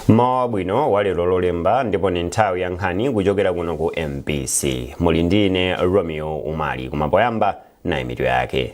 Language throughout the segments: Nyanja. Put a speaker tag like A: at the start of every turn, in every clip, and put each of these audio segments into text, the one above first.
A: mmawa wabwino wa lero lolemba ndipo ni nthawi ya nkhani kuchokera kuno ku mbc muli ndi ine romeo umali koma poyamba nayi mitu yake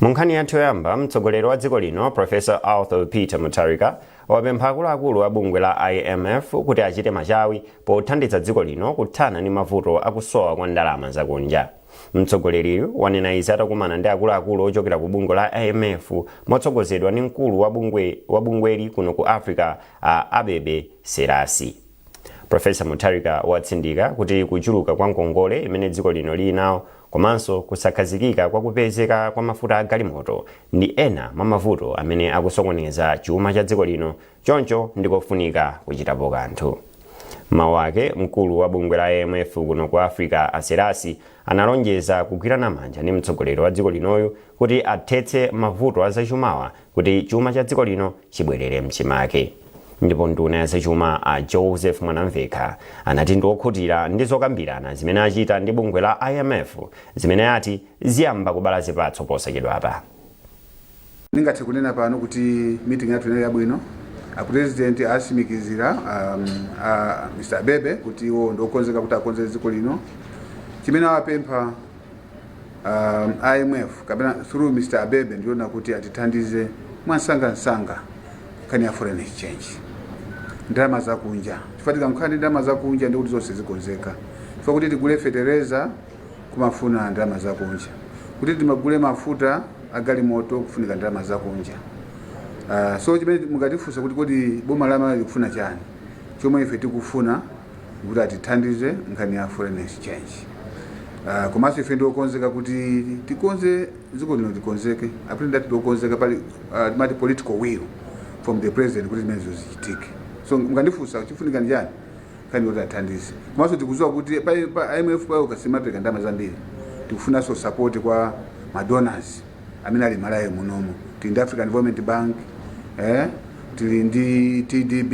A: Mu nkhani yathu yoyamba, mtsogoleri wa dziko lino Professor Arthur Peter Mutharika wapempha akuluakulu a bungwe la IMF kuti achite machawi pothandiza dziko lino kuthana ndi mavuto akusowa kwa ndalama zakunja. Mtsogoleriyu wanena izi atakumana ndi akuluakulu ochokera ku bungwe la IMF motsogozedwa ndi mkulu wa bungweli kuno ku Africa a Abebe Selassie. Professor Mutharika watsindika kuti kuchuluka kwa ngongole imene dziko lino lili nawo komanso kusakhazikika kwa kupezeka kwa mafuta a galimoto ndi ena mwa mavuto amene akusokoneza chuma cha dziko lino choncho ndikofunika kuchitapo kanthu. M'mawu ake mkulu wa bungwe la IMF kuno ku Africa a Selassie analonjeza kugwirana manja ndi mtsogoleri wa dziko linoyu kuti athetse mavuto a zachumawa kuti chuma cha dziko lino chibwerere mchimake ndipo nduna ya zachuma a joseph mwanamvekha anati ndi okhutira ndi zokambirana zimene achita ndi bungwe la imf zimene ati ziyamba kubala zipatso
B: posachedwapa ndingathe kunena pano kuti meeting yathu inali yabwino apresident asimikizira um, uh, mr abebe kuti iwo ndiokonzeka kuti akonze dziko lino chimene awapempha um, imf kapena through mr abebe ndi chonena kuti atithandize mwansanga nkhani ya foreign exchange ndalama zakunja chifukwa tikakhala ndi ndalama zakunja ndikuti zonse zikonzeka chifukwa kuti tigule fetereza kumafunika ndalama zakunja kuti timagule mafuta agalimoto kufunika ndalama zakunja uh, so chimene mungatifunsa kuti kodi boma la malawi likufuna chani chomwe ife tikufuna kuti atithandize nkhani ya foreign exchange uh, komanso ife ndiokonzeka kuti tikonze dziko lino likonzeke apresident ndiokonzeka pali uh, timati political will from the president kuti zimenezo zichitike so mukandifunsa chikufunika ndi chani nkhani yoti athandize komanso tikuziwa kuti pa, pa imf payokha simapereka ndalama zambiri tikufunanso support kwa madonors amene ali mmalawi munomo tili ndi african development bank eh? tili ndi tdb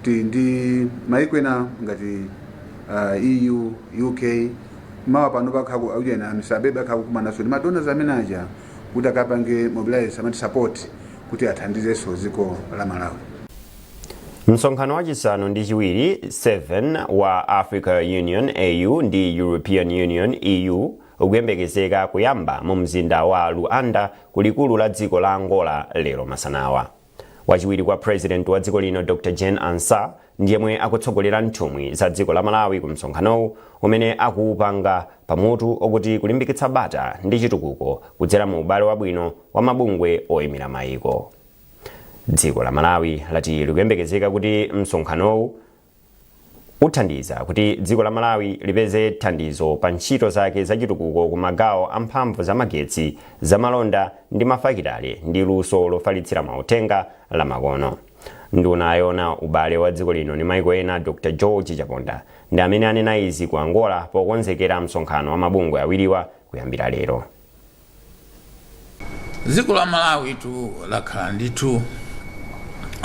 B: tili ndi maiko ena ngati uh, eu uk mawa pano pakhaku aujena mr abebe akhala akukumanaso ndi madonors amene aja kuti akapange mobilize amati support kuti athandizenso dziko la
A: malawi msonkhano wachisanu ndi chiwiri 7 wa africa union au ndi european union eu ukuyembekezeka kuyamba mu mzinda wa Luanda ku likulu la dziko la Angola lero masanawa. Wachiwiri kwa President wa dziko lino Dr. Jane Ansah ndi yemwe akutsogolera nthumwi za dziko la Malawi ku msonkhanowu umene akuupanga pa mutu okuti kulimbikitsa bata ndi chitukuko kudzera mu ubale wabwino wa mabungwe oyimira mayiko. Dziko la Malawi lati likuyembekezeka kuti msonkhanowu uthandiza kuti dziko la Malawi lipeze thandizo pa ntchito zake zachitukuko ku magawo a mphamvu za magetsi, zamalonda ndi mafakitale ndi luso lofalitsira mauthenga lamakono. Nduna yoona ubale wa dziko lino ndi maiko ena Dr George Chaponda ndi amene anena izi ku Angola pokonzekera msonkhano wa mabungwe awiriwa kuyambira lero.
C: dziko la malawitu lakhala ndithu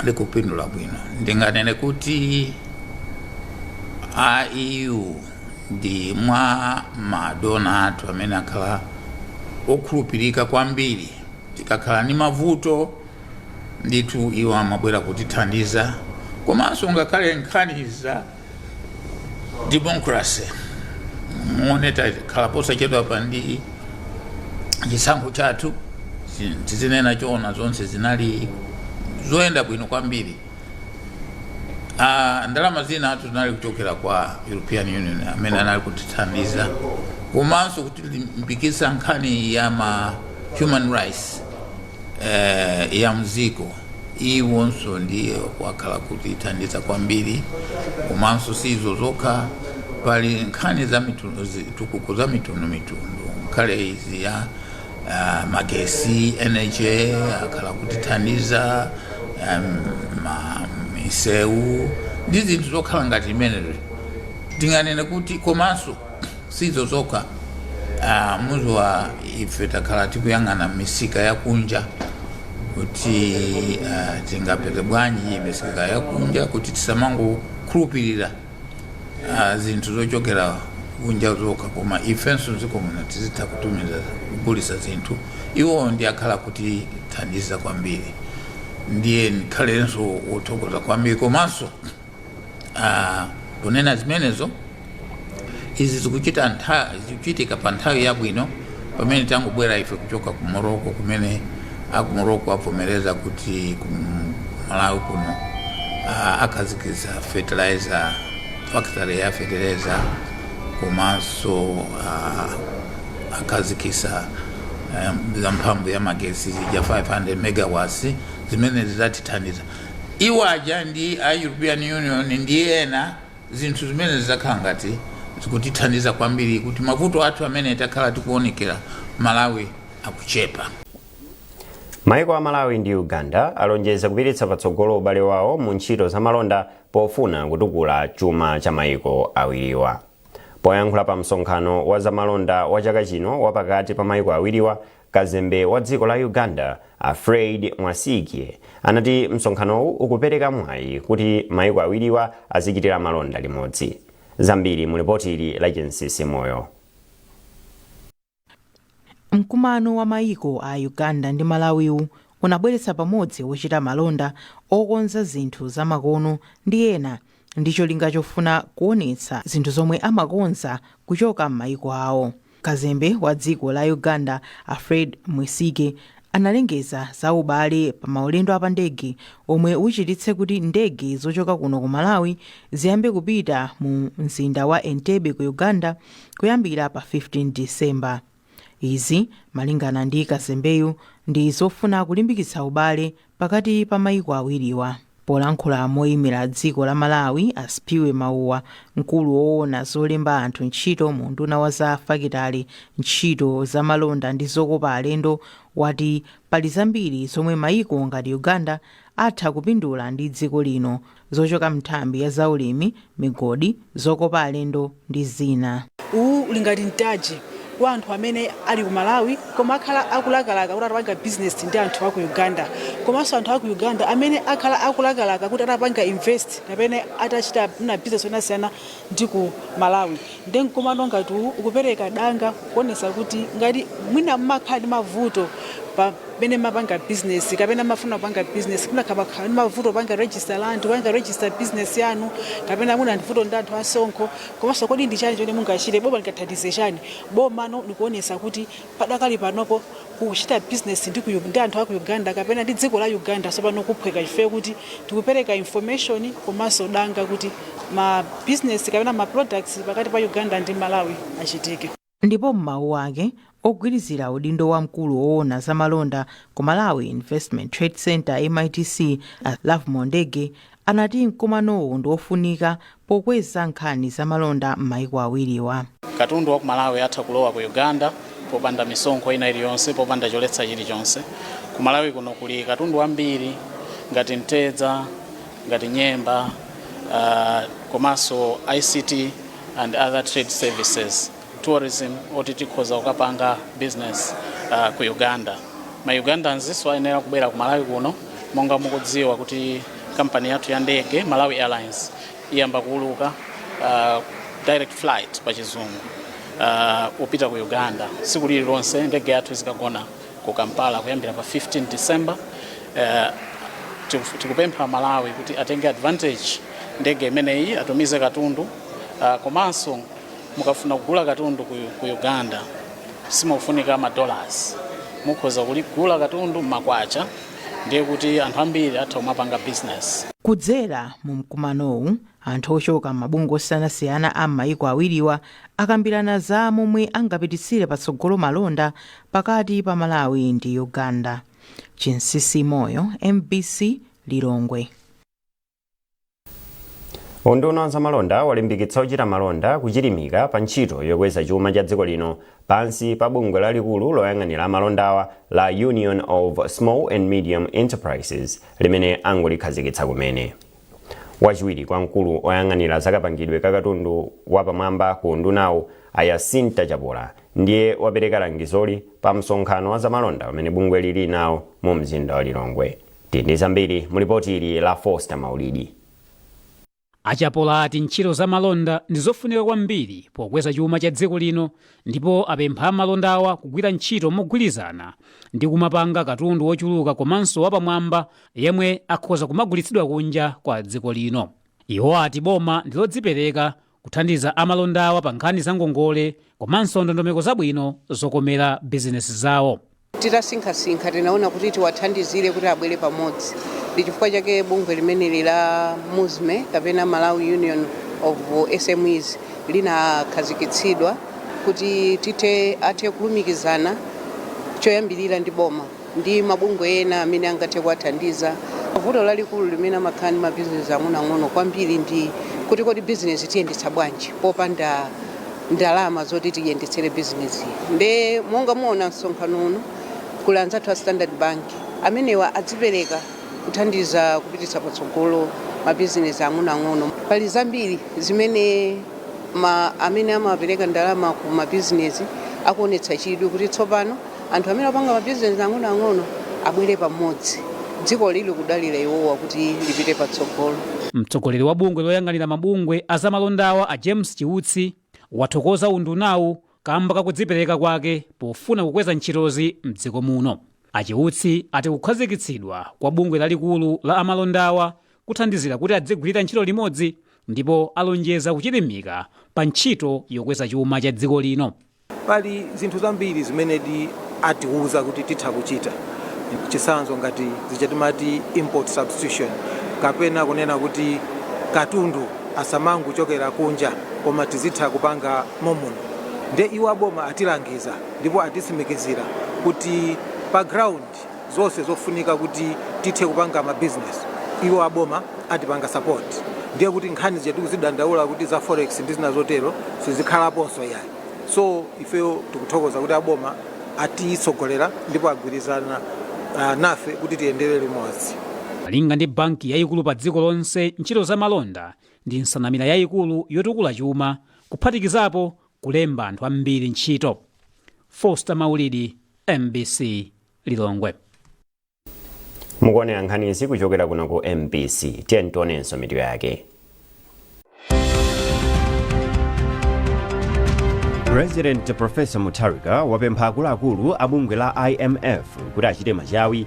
C: likupindula bwino ndinganene kuti a eu ndi mwa madona athu amene akhala okhulupirika kwambiri tikakhala ndi mavuto ndithu iwo amabwera kutithandiza komanso ngakhale nkhani za democracy muone takhala posachedwapa ndi chisankho chathu chi- tizinena choona zonse zinali zoyenda bwino kwambiri Ah, ndalama zinatu zinali kuchokera kwa european union amene anali kutithandiza komanso kutilimbikitsa nkhani ya ma human rights eh, ya mziko iwonso ndiye wakhala kutithandiza kwambiri komanso si izo zokha pali nkhani za mitundu zitukuko za mitundu mitundu nkhale izi ya uh, magesi energy akhala kutithandiza um, ma, misewu ndi zinthu zokhala ngati imenezo tinganene kuti komanso sizo zokha ah, muziwa ife takhala tikuyang'ana misika yakunja kuti ah, tingapeze bwanji misika yakunja kuti tisamangokhulupirira ah, zinthu zochokera kunja zokha koma ifenso dziko muno tizitha kutumiza kugulisa zinthu iwo ndi akhala kutithandiza kwambiri ndiye ndikhalenso wothokoza kwambiri komanso Ah, kunena zimenezo izi zikuchita ntha- zikuchitika pa nthawi yabwino pamene tangobwera ife kuchoka ku Morocco kumene aku Morocco avomereza kuti ku malawi kuno ah, akhazikitsa fertilizer factory ya fertilizer komanso ah, akhazikitsa eh, za mphamvu ya magesi zija 500 megawatts zimene zidzatithandiza iwo aja ndi a european union ndi ena zinthu zimene zidzakhala ngati zikutithandiza kwambiri kuti mavuto athu amene takhala tikuonekera malawi akuchepa
A: maiko a malawi ndi uganda alonjeza kupititsa patsogolo ubale wawo mu ntchito za malonda pofuna kutukula chuma cha maiko awiriwa poyankhula pa msonkhano wa zamalonda wa chaka chino wapakati pa maiko awiriwa Kazembe wa dziko la Uganda, a Fred Mwesigye, anati msonkhanowu ukupereka mwayi kuti maiko awiriwa azichitira malonda limodzi. Zambiri mu lipoti ili la Chinsisi Moyo.
D: Mkumano wa maiko a Uganda ndi Malawi-wu unabweretsa pamodzi ochita malonda, okonza zinthu za makono ndi ena ndi cholinga chofuna kuonetsa zinthu zomwe amakonza kuchoka m'maiko awo. Kazembe wa dziko la Uganda a Fred Mwesigye analengeza za ubale pa maulendo a pa ndege omwe uchititse kuti ndege zochoka kuno ku Malawi ziyambe kupita mu mzinda wa Entebbe ku Uganda kuyambira pa 15 December. Izi malingana ndi kazembeyu ndi zofuna kulimbikitsa ubale pakati pa maiko awiriwa. Polankhula moimira dziko la Malawi, a Sphiwe Mauwa, mkulu woona zolemba anthu ntchito mu unduna wa za fakitale, ntchito za malonda ndi zokopa alendo, wati pali zambiri zomwe maiko ngati Uganda atha kupindula ndi dziko lino zochoka m'nthambi ya zaulimi, migodi, zokopa alendo ndi zina. Uwu uli ngati
E: mtaji kwa anthu amene ali ku Malawi koma akhala akulakalaka kuti atapanga business ndi anthu aku Uganda komanso anthu aku Uganda amene akhala akulakalaka kuti atapanga invest kapena atachita mwina business yosiyanasiyana ndi ku Malawi nde mkumano ngati uwu ukupereka danga kuonetsa kuti ngati mwina mumakhala ndi mavuto pamene mumapanga business kapena mumafuna kupanga business mwina kumakhala ndi mavuto kupanga register land kupanga register business yanu kapena mwina ndi vuto ndi anthu asonkho komanso kodi ndi chani chimene mungachite boma lingathandize chani boma lino likuonetsa kuti Padakali panopo kuchita business ndi, ku, ndi anthu a ku Uganda kapena ndi dziko la Uganda tsopano kuphweka chifukwa kuti tikupereka information komanso danga kuti ma business kapena ma products pakati pa Uganda ndi Malawi achitike. Ndipo
D: m'mawu ake, ogwirizira udindo wa mkulu owona za malonda ku Malawi Investment Trade Centre, MITC, a Lovemore Ndege anati mkumanowu ndi ofunika pokweza nkhani za malonda m'maiko awiriwa. Katundu wa ku Malawi
F: atha kulowa ku Uganda popanda misonkho ina iliyonse, popanda choletsa chilichonse. Ku Malawi kuno kuli katundu wambiri ngati mtedza, ngati nyemba, uh, komanso ICT and other trade services. tourism oti tikhoza kukapanga business uh, ku Uganda ma Ugandanzinso ayenera kubwera ku Malawi kuno monga mukudziwa kuti kampani yathu ya ndege Malawi Airlines iyamba kuuluka uh, direct flight pa chizungu uh, kupita ku Uganda tsiku lililonse ndege yathu izikagona ku Kampala kuyambira pa 15 December uh, tiku- tikupempha aMalawi kuti atenge advantage ndege imeneyi atumize katundu uh, komanso mukafuna kugula katundu ku, ku uganda simufunika madollars mukhoza kuligula katundu m'makwacha ndiye kuti anthu ambiri atha kumapanga business kudzera mu
D: mkumanowu anthu ochoka m'mabungwe osiyanasiyana a m'mayiko awiriwa akambirana za momwe angapititsire patsogolo malonda pakati pa malawi ndi uganda chinsinsi moyo mbc lilongwe
A: Unduna wa zamalonda walimbikitsa ochita malonda kuchilimika pa ntchito yokweza chuma cha dziko lino pansi pa bungwe lalikulu loyang'anira amalondawa la Union of Small and Medium Enterprises limene angolikhazikitsa kumene. Wachiwiri kwa mkulu oyang'anira zakapangidwe ka katundu wapamwamba ku undunawu a Yasinta Chapola ndiye wapereka langizoli pa msonkhano wa zamalonda umene bungweli lili nawo mu mzinda wa Lilongwe. Tili ndi zambiri mu lipoti ili la Foster Maulidi. A
G: Chapola ati ntchito za malonda ndi zofunika kwambiri pokweza chuma cha dziko lino ndipo apempha amalondawa kugwira ntchito mogwirizana ndi kumapanga katundu wochuluka komanso wapamwamba yemwe akhoza kumagulitsidwa kunja kwa dziko lino. Iwo ati boma ndi lodzipereka kuthandiza amalondawa pa nkhani za ngongole komanso ndondomeko zabwino zokomera bizinesi zawo. Titasinkhasinkha
H: tinaona kuti tiwathandizire kuti abwere pamodzi. Ndi chifukwa chake bungwe limeneli la Musme kapena Malawi Union of SMEs linakhazikitsidwa kuti tithe, athe kulumikizana choyambirira ndi boma. ndi mabungwe ena amene angathe kuwathandiza. Vuto lalikulu limene amakhala ndi mabizinesi ang'onoang'ono kwambiri ndi kuti kodi bizinesi tiyendetsa bwanji popanda ndalama zoti tiyendetsere bizinesi. Nde monga muona msonkhano uno kuli anzathu a Standard Bank, amenewa adzipereka kuthandiza kupititsa patsogolo mabizinesi ang'onoang'ono. Pali zambiri zimene ma amene amapereka ndalama ku mabizinesi akuonetsa chidwi kuti tsopano. anthu amene akupanga mabizinesi ang'onoang'ono abwere pamodzi dziko lili kudalira iwowa kuti lipite patsogolo. Mtsogoleri wa
G: bungwe loyang'anira mabungwe a zamalondawa a James Chiutsi wathokoza undunawu kamba ka kudzipereka kwake pofuna kukweza ntchitozi mdziko muno. A Chiutsi ati kukhazikitsidwa kwa bungwe lalikulu la amalondawa kuthandizira kuti adzigwirira ntchito limodzi ndipo alonjeza kuchilimika pa ntchito yokweza chuma cha dziko lino. Pali zinthu
I: zambiri zimenedi atiuza kuti titha kuchita. Chitsanzo ngati zija timati import substitution kapena kunena kuti katundu asamangochokera kunja koma tizitha kupanga momuno. Ndiye iwo aboma atilangiza ndipo atitsimikizira kuti pa ground. zonse zofunika kuti tithe kupanga mabizinesi iwo aboma atipanga support ndiye kuti nkhani zija tikuzidandaula kuti za forex ndi zina zotero sizikhalaponso yayi so ifeyo tikuthokoza kuti aboma atitsogolera ndipo agwirizana nafe kuti tiyendere limodzi Malinga
G: ndi banki yayikulu pa dziko lonse, ntchito za malonda ndi nsanamira yayikulu yotukula chuma, kuphatikizapo kulemba anthu ambiri ntchito. Foster Maulidi, mbc Lilongwe. Mukuonera
A: nkhani izi kuchokera kuno ku mbc tiyeni tionenso mitu yake president professor mutharika wapempha akuluakulu a bungwe la imf kuti achite machawi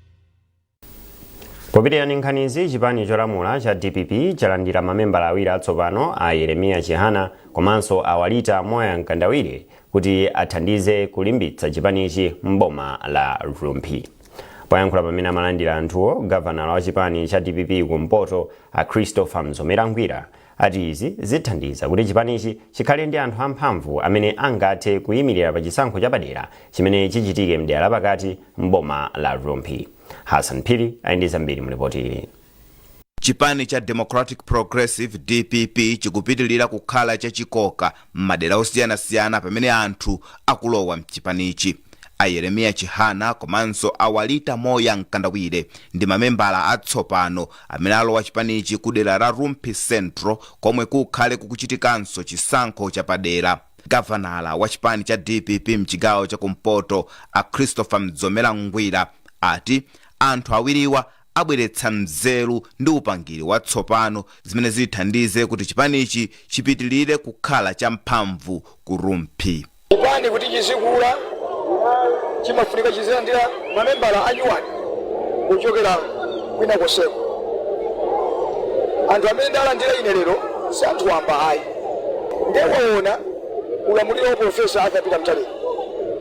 A: Popitira ndi nkhanizi, chipani cholamula cha dpp chalandira mamembala awiri atsopano a Yeremiya Chihana komanso a Walita Moya Mkandawire kuti athandize kulimbitsa chipanichi m'boma la Rumphi. Poyankhula pamene amalandira anthuwo, gavanala wa chipani cha dpp kumpoto a Christopher Mzomera Ngwira ati izi zithandiza kuti chipanichi chikhale ndi anthu amphamvu amene angathe kuyimirira pa chisankho chapadera chimene chichitike m'dera lapakati m'boma la Rumphi. Hassan Phiri ali ndi zambiri mu lipoti ili. Chipani
J: cha Democratic Progressive, dpp, chikupitilira kukhala chachikoka m'madera osiyanasiyana pamene anthu akulowa mchipanichi. A Yeremiya Chihana komanso a Walita Moya Mkandawire ndi mamembala atsopano amene alowa chipanichi kudera la Rumphi Central komwe kukhale kukuchitikanso chisankho chapadera. Gavanala wa chipani cha dpp mchigawo chakumpoto a Christopher Mzomera Ngwira ati anthu awiriwa abweretsa nzeru ndi upangiri watsopano zimene zithandize kuti chipanichi chipitilire kukhala cha mphamvu ku Rumphi. Chipani kuti
K: chizikula chimafunika chizilandira mamembala anyuwani kuchokera kwina konseko. Anthu amene ndalandira ine lero si anthu wamba ayi. Nde waona ulamuliro wa Professor Arthur Peter Mutharika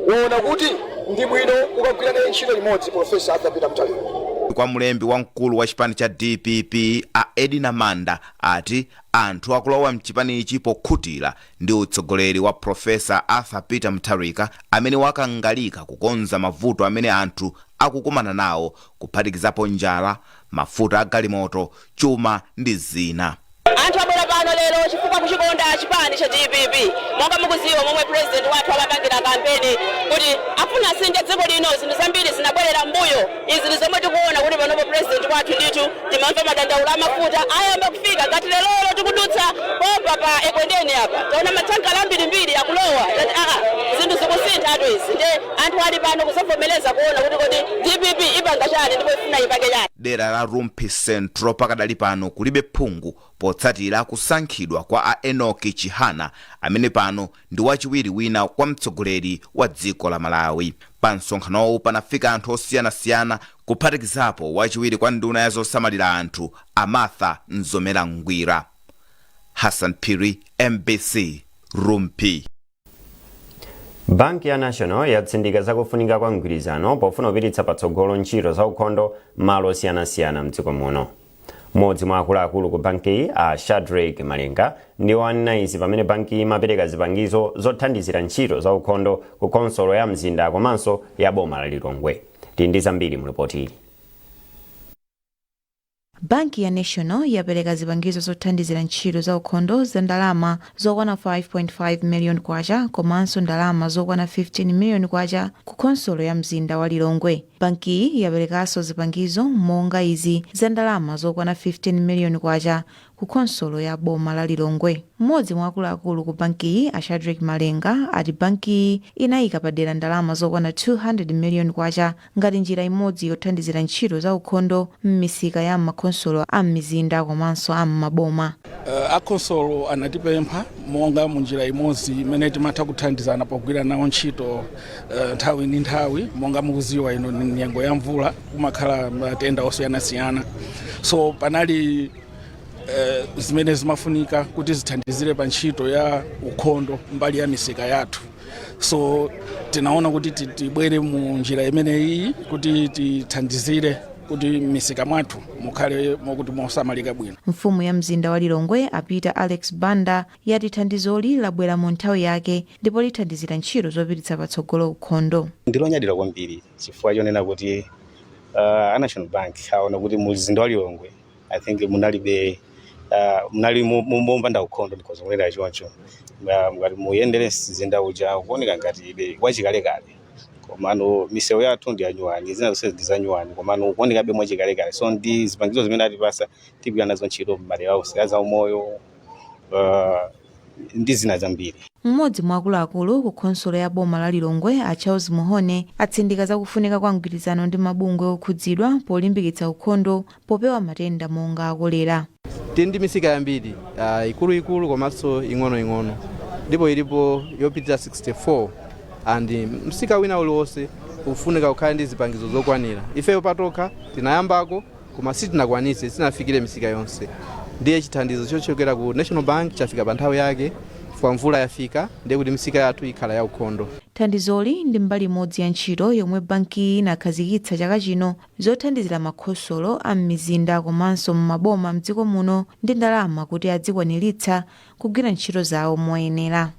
K: waona kuti Ndi bwino ukagwira naye ntchito limodzi Pulofesa Arthur Peter Mutharika. Kwa
J: mlembi wamkulu wa chipani cha dpp a Edina Manda ati anthu akulowa mchipanichi pokhutira ndi utsogoleri wa Prof Arthur Peter Mutharika amene wakangalika kukonza mavuto amene anthu akukumana nawo kuphatikizapo njala, mafuta a galimoto, chuma ndi zina. Anthu abwera
L: pano lero chifukwa kuchikonda chipani cha dpp monga mukuziwa momwe president wathu amapangira kampeni kuti afuna asinthe dziko lino zinthu zambiri zinabwerera m'mbuyo izi ndi zomwe tikuona kuti panopo president wathu ndithu timamva madandaulo a mafuta ayamba kufika ngati lerolo tikudutsa pompa pa ekwendeni apa taona mathankala ambirimbiri akulowa tati aa zinthu zikusinthatu izi nde Anthu ali pano kuzavomereza kuona kuti kodi dpp ipanga chani ndipo ifuna ipange chani. Dera la
J: Rumphi Central pakadali pano kulibe phungu potsatira kusankhidwa kwa a Enoch Chihana amene pano ndi wachiwiri wina kwa mtsogoleri wa dziko la Malawi. Pa msonkhanowu panafika anthu osiyanasiyana kuphatikizapo wachiwiri kwa nduna ya zosamalira anthu a Martha Nzomera Ngwira. Hassan Phiri, mbc, Rumphi.
A: banki ya national yatsindika zakufunika kwa mgwirizano pofuna kupititsa patsogolo ntchito za ukhondo malo osiyanasiyana mdziko muno mmodzi mwa akuluakulu ku bankiyi a shadrack malenga ndiwo anena izi pamene bankiyi imapereka zipangizo zothandizira ntchito za ukhondo ku khonsolo ya mzinda komanso ya boma la lilongwe tili ndi zambiri mu lipoti ili
M: Banki ya National yapereka zipangizo zothandizira ntchito za ukhondo za ndalama zokwana K5.5 million komanso ndalama zokwana K15 million ku khonsolo ya mzinda wa Lilongwe. Bankiyi yaperekanso zipangizo monga izi za ndalama zokwana K15 million ku khonsolo ya boma la Lilongwe. M'modzi mwa akuluakulu ku bankiyi a Shadreck Malenga ati bankiyi inayika padera ndalama zokwana K200 million ngati njira imodzi yothandizira ntchito za ukhondo m'misika ya m'makhonsolo a m'mizinda komanso a m'maboma. A
N: khonsolo anatipempha monga mu njira imodzi imene timatha kuthandizana pogwira nawo ntchito nthawi ndi nthawi monga mukuziwa ino ndi nyengo ya mvula kumakhala matenda osiyanasiyana so panali eh, zimene zimafunika kuti zithandizire pa ntchito ya ukhondo mbali ya misika yathu so tinaona kuti ti- tibwere mu njira imeneyi kuti tithandizire kuti misika mwathu mukhale mokuti mosamalika bwino mfumu ya mzinda
M: wa lilongwe a peter alex banda yati thandizoli labwera mu nthawi yake ndipo lithandizira ntchito zopititsa patsogolo ukhondo ndilonyadira kwambiri
O: chifukwa chonena kuti uh, a national bank aona kuti mu mzinda wa lilongwe i think munalibe uh, munali mu- mu- mopanda ukhondo ndikhoza kunena choncho Ngati muyendere mzinda uja ukuoneka ngatibe wachikalekale komano misewu yathu ndi yanyuwani zina zonse ndi zanyuwani komano kuonekabe mwachikalekale so ndi zipangizo zimene atipasa tigwira nazo ntchito m'madera onse a zaumoyo uh, ndi zina zambiri mmodzi mwa akuluakulu
M: ku khonsolo ya boma la lilongwe a charles muhone atsindika zakufunika kwa mgwirizano ndi mabungwe okhudzidwa polimbikitsa ukhondo popewa matenda monga a kolera. Tili ndi
P: misika yambiri, ikuluikulu komanso ing'onoing'ono ndipo ilipo yopitira 64 and msika wina uliwonse ufunika ukhale ndi zipangizo zokwanira. Ifeyo patokha tinayambako koma sitinakwanitse, sitinafikire misika yonse ndiye chithandizo chochokera ku National Bank chafika pa nthawi yake chifukwa mvula yafika ndiye kuti misika yathu ikhala yaukhondo. Thandizoli ndi
M: mbali imodzi ya ntchito yomwe bankiyi inakhazikitsa chaka chino zothandizira makhonsolo a m'mizinda komanso m'maboma m'dziko muno ndi ndalama kuti adzikwaniritsa kugwira ntchito zawo moyenera.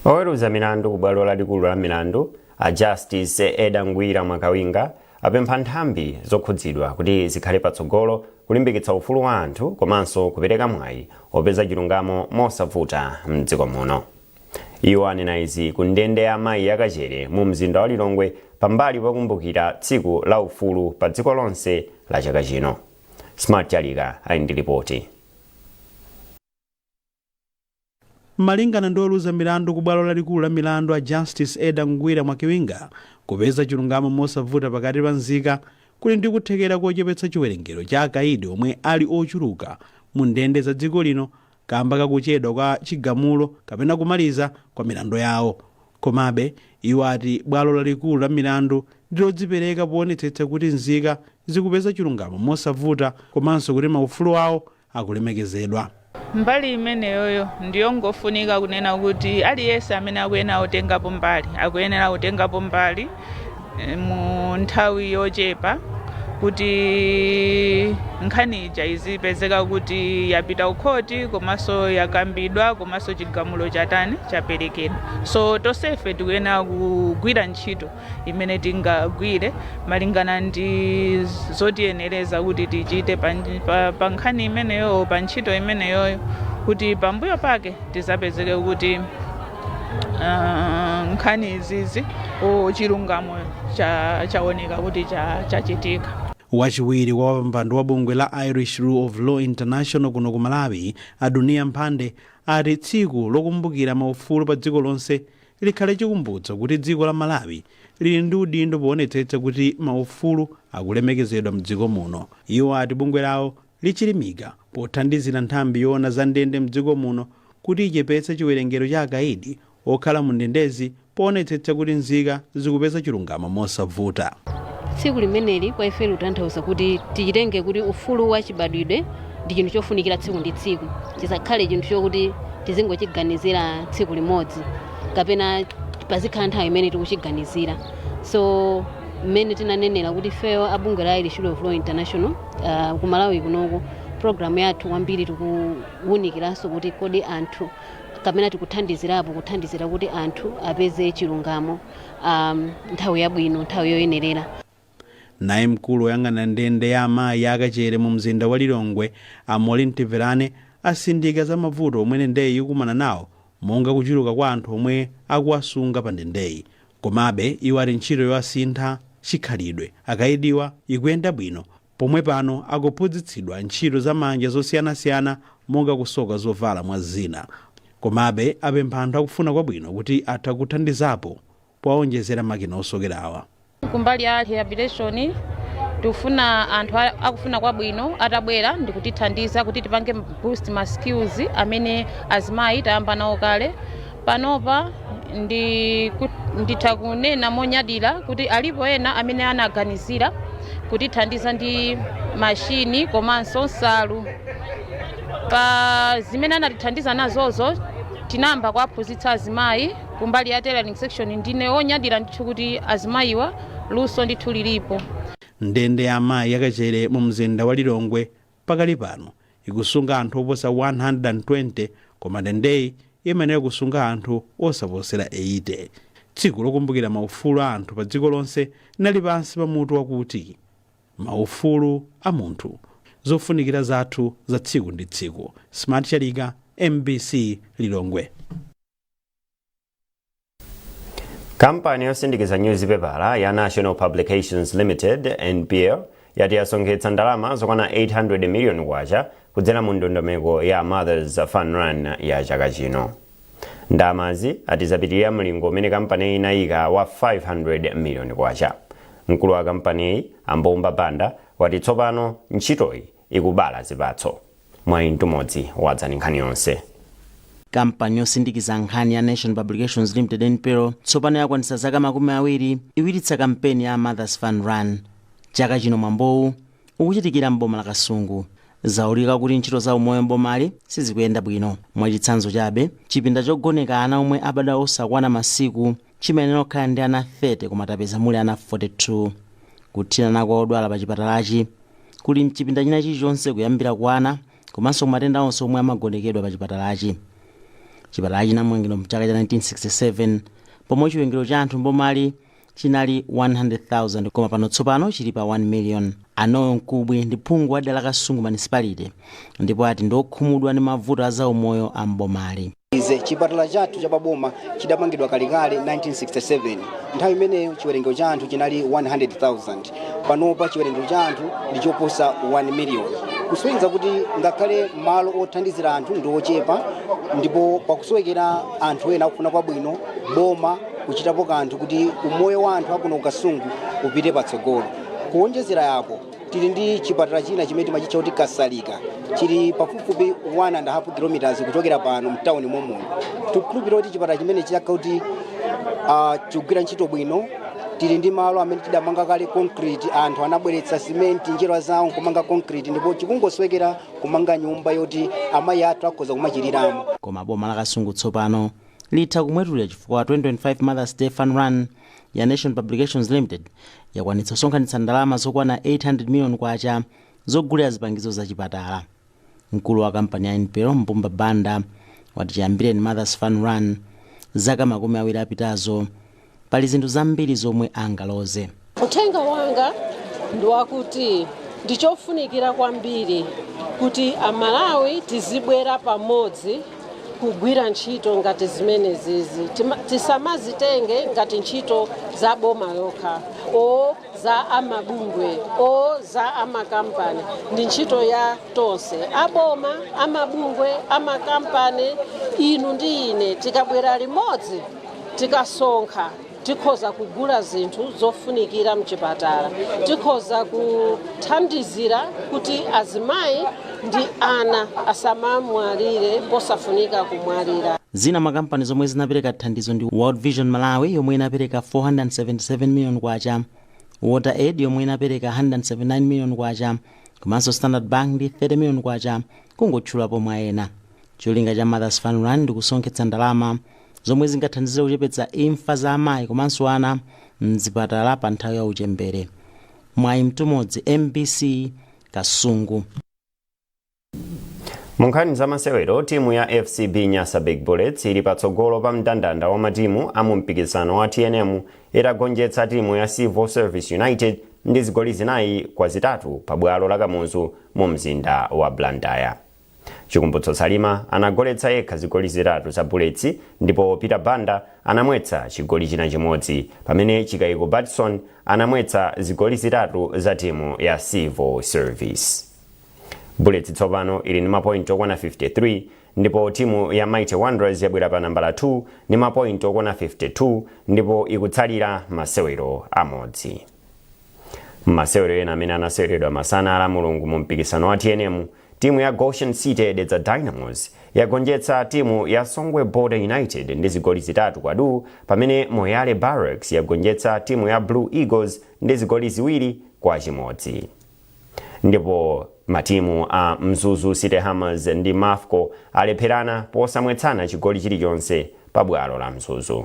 A: Oweruza milandu ku bwalo lalikulu la milandu a Justice Edda Ngwira Mwakibinga apempha nthambi zokhudzidwa kuti zikhale patsogolo kulimbikitsa ufulu wa anthu komanso kupereka mwayi opeza chilungamo mosavuta m'dziko muno. Iwo anena izi ku ndende ya amayi ya Kachere mu mzinda wa Lilongwe pambali pokumbukira tsiku la ufulu pa dziko lonse la chaka chino. Smart Chalika ali ndi lipoti.
Q: Malingana ndi oweruza milandu ku bwalo lalikulu la milandu a Justice Edda Ngwira Mwakibinga, kupeza chilungamo mosavuta pakati pa nzika kuli ndi kuthekera kochepetsa chiwerengero cha akaidi omwe ali ochuluka mu ndende za dziko lino kaamba ka kuchedwa kwa chigamulo kapena kumaliza kwa milandu yawo. Komabe, iwo ati bwalo lalikulu la milandu ndi lodzipereka poonetsetsa kuti nzika zikupeza chilungamo mosavuta komanso kuti maufulu awo akulemekezedwa.
R: Mbali imeneyoyo ndiyo ngofunika kunena kuti aliyense amene akuyenera kutengapo mbali akuyenera kutengapo mbali. mu nthawi yochepa kuti nkhani ija izipezeka kuti yapita ukhoti komanso yakambidwa komanso chigamulo chatani chaperekedwa so tonsefe tikuyenera kugwira ntchito imene tingagwire malingana ndi zotiyenereza kuti tichite pa, pa, pa nkhani imeneyo pa ntchito imeneyoyo kuti pambuyo pake tizapezeke kuti ah, nkhani izizi chilungamo cha- chaoneka kuti cha- chachitika wachiwiri
Q: wa wapampando wa bungwe la irish rule of law international kuno ku malawi a Duniya Mphande ati tsiku lokumbukira maufulu pa dziko lonse likhale chikumbutso kuti dziko la malawi lili ndi udindo poonetsetsa kuti maufulu akulemekezedwa mdziko muno iwo ati bungwe lawo lichilimika pothandizira nthambi yoona za ndende mdziko muno kuti ichepetse chiwerengero cha akaidi okhala mu ndendezi poonetsetsa kuti nzika zikupeza chilungamo mosavuta. Tsiku
S: limeneli kwa ife likutanthauza kuti tichitenge kuti ufulu wa chibadwidwe ndi chinthu chofunikira tsiku ndi tsiku, chisakhale chinthu chokuti tizingochiganizira tsiku limodzi kapena pazikhala nthawi imene tikuchiganizira. So mmene tinanenera kuti ifeyo a bungwe la Irish Rule of Law International, Uh, ku Malawi kunoko programu yathu kwambiri tikuwunikiranso kuti kodi anthu kapena tikuthandizirapo kuthandizira kuti anthu apeze chilungamo um, nthawi yabwino nthawi yoyenerera
Q: naye mkulu woyang'anira ndende ya amayi ya Kachere mu mzinda wa lilongwe a Molly Mtiverane atsindika za mavuto omwe ndendeyi ikumana nawo monga kuchuluka kwa anthu omwe akuwasunga pa ndendeyi Komabe, iwo ati ntchito yowasintha chikhalidwe akaidiwa ikuyenda bwino pomwe pano akuphunzitsidwa ntchito za manja zosiyanasiyana monga kusoka zovala mwa zina. Komabe, apempha anthu akufuna kwabwino kuti atha kuthandizapo powaonjezera makina osokerawa. Kumbali
T: ya rehabilitation tikufuna anthu akufuna kwabwino atabwera ndikutithandiza kuti tipange boost ma skills amene azimayi tayamba nawo kale. Panopa ndikut- nditha kunena monyadira kuti alipo ena amene anaganizira kutithandiza ndi mashini komanso nsalu pa zimene anatithandiza nazozo tinayamba kuwaphunzitsa azimayi kumbali ya tailoring section ndine onyadira ndithu kuti azimayiwa luso ndithu lilipo ndende ya
Q: amayi ya Kachere mu mzinda wa lilongwe Pakali pano, ikusunga anthu oposa 120 koma ndendeyi imayenera kusunga anthu osaposera 80. Tsiku Lokumbukira Maufulu a Anthu Padziko Lonse linali pansi pa mutu wakuti, Maufulu a Munthu, Zofunikira Zathu za Tsiku ndi Tsiku. Smart Chalika, mbc Lilongwe.
A: kampani yosindikiza nyuzipepala ya Nation Publications limited npl yati yasonkhetsa ndalama zokwana 800 miliyoni kwacha kudzera mu ndondomeko ya mothers fun run ya chaka chino ndalamazi ati zapitirira mlingo umene kampaniyi inayika wa 500 miliyoni kwacha mkulu wa kampaniyi a Mbumba Banda wati tsopano ntchitoyi ikubala zipatso. Mwayi Mtumodzi wadza ndi nkhani yonse.
U: Kampani yosindikiza nkhani ya Nation Publications Limited, NPL, tsopano yakwanitsa zaka makumi awiri ikuchititsa kampeni ya Mother's Fun Run. Chaka chino mwambowu ukuchitikira m'boma la Kasungu. Zaulika kuti ntchito za umoyo m'bomali sizikuyenda bwino. Mwachitsanzo chabe, chipinda chogoneka ana omwe abadwa osakwana masiku chimayenera kukhala ndi ana 30 koma tapeza muli ana 42. Kuthinana kwa odwala pa chipatalachi kuli mchipinda china chilichonse kuyambira kwa ana komanso ku matenda onse omwe amagonekedwa pa chipatalachi. Chipatalachi chinamangidwa mchaka cha 1967 pomwe chiwerengero cha anthu m'bomali chinali 100,000 koma pano tsopano chili pa 1 million. A Noel Mkubwi ndi phungu wa dera la Kasungu Municipality ndipo ati ndiokhumudwa ndi mavuto a zaumoyo a m'bomali. ize chipatala
V: chathu cha paboma chidamangidwa kalekale 1967 nthawi imeneyo chiwerengero cha anthu chinali 100,000 panopa chiwerengero cha anthu ndi choposa 1 million kusonyeza kuti ngakhale malo othandizira anthu ndi ochepa ndipo pakusowekera anthu ena akufuna kwabwino boma kuchitapo kanthu kuti umoyo wa anthu akuno ku kasungu upite patsogolo kuwonjezera apo tili ndi chipatala china chimene timachitcha kuti kasalika chili pafupifupi 1 and half kilometers kuchokera pano mtawuni momuno tikukhulupirira kuti chipatala chimenecho chikakhala kuti ah, chikugwira ntchito bwino tili ndi malo amene tidamanga kale concrete anthu anabweretsa simenti njerwa zawo nkumanga concrete ndipo chikungosowekera kumanga nyumba yoti amayi athu akhoza kumachiliramo koma boma la kasungu
U: tsopano litha kumwetulira chifukwa 2025 mothers day fun run ya Nation Publications Limited yakwanitsa kusonkhanitsa ndalama zokwana 800 million kwacha zogulira zipangizo za chipatala. Mkulu wa kampani ya NPL Mbumba Banda wati chiyambireni Mothers Fun Run zaka makumi awiri apitazo pali zinthu zambiri zomwe angaloze. Uthenga wanga
B: ndi wakuti ndichofunikira kwambiri kuti Amalawi tizibwera pamodzi kugwira ntchito ngati zimenezizi tisamazitenge ngati ntchito za boma lokha o za amabungwe o za amakampani ndi ntchito ya tonse aboma amabungwe amakampani inu ndi ine tikabwera limodzi tikasonkha tikhoza kugula zinthu zofunikira mchipatala tikhoza kuthandizira kuti azimayi ndi ana asamamwalire posafunika kumwalira Zina mwa kampani
U: zomwe zinapereka thandizo ndi World Vision Malawi yomwe inapereka 477 million kwacha, Water Aid yomwe inapereka 179 million kwacha, komanso Standard Bank ndi 30 million kwacha kungotchulapo mwa ena. Cholinga cha Mothers Fun Run ndi kusonkhetsa ndalama zomwe zingathandizire kuchepetsa imfa za amayi komanso ana m'zipatala pa nthawi ya uchembere. Mwayi Mtumodzi, mbc, Kasungu.
A: Munkhani za masewero timu ya FCB Nyasa Big Bullets ili patsogolo pa mndandanda wa matimu a mu mpikisano wa TNM itagonjetsa timu ya Civil Service United ndi zigoli zinayi kwa zitatu pa bwalo la Kamuzu mu mzinda wa Blantyre. Chikumbutso Salima anagoletsa yekha zigoli zitatu za Bullets ndipo Peter Banda anamwetsa chigoli china chimodzi pamene Chikaiko Batson anamwetsa zigoli zitatu za timu ya Civil Service. Bullets tsopano ili ndi mapointi okwana 53 ndipo timu ya Mighty Wanderers yabwera pa nambala 2 ndi mapointi okwana 52 ndipo ikutsalira masewero amodzi. Masewero ena amene anaseweredwa masana a la Mulungu mu mpikisano wa tnm Timu ya Goshen City Dedza Dynamos yagonjetsa timu ya Songwe Border United ndi zigoli zitatu kwa duu pamene Moyale Barracks yagonjetsa timu ya Blue Eagles ndi zigoli ziwiri kwa chimodzi. Ndipo matimu a Mzuzu City Hammers ndi Mafco alepherana posamwetsana chigoli chilichonse pa bwalo la Mzuzu.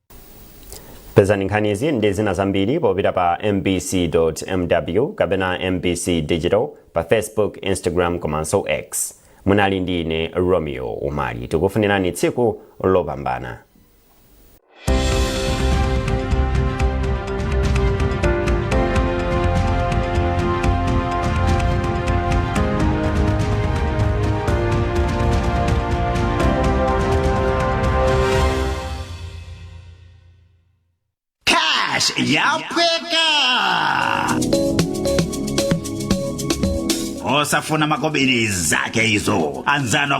A: pezani nkhanizi ndi zina zambiri popita pa mbc.mw kapena mbc digital pa facebook instagram komanso x munali ndi ine romeo umali tikufunirani tsiku lopambana
C: Cash yapweka osafuna makobiri zake izo anzano